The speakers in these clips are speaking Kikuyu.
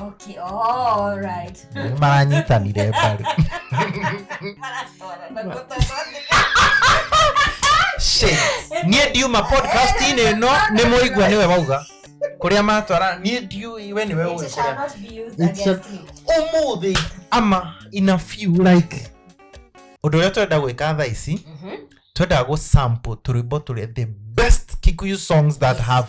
okay all right Nĩ maranyitanire mbaru Shit. niĩ ndiuma podcast-inĩ ĩno nĩ mũigua nĩwe wauga kũrĩa matwara niĩ ndiũĩ we nĩwe ũĩ kũrĩa It's a- ũmũthĩ ama in a few like ũndũ ũrĩa twenda gwĩka thaa ici twendaga gũ sample tũrwĩmbo tũrĩa the best kikuyu songs that have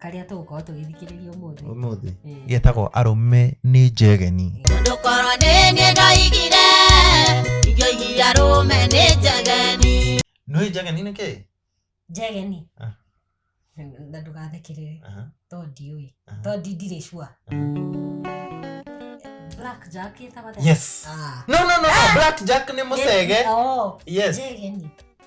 karĩa tũgũkorwo tũgĩthikĩrĩria ũmũthĩ ũmũthĩ Ĩĩ. getagwo arũme nĩ njegeni Tondũ korwo nĩ niĩ ndoigire, ingĩoigire arũme nĩ njageni. nĩ njegeni nĩ kĩĩ njegeni Ah. na ndũgathikĩrĩre Aha. to ndiũĩ Aha. to ndi- ndirĩ cua black jack ĩtagwo atĩa? yes Ah. no no no no, black jack nĩ mũcege Ĩĩ, oo, yes njegeni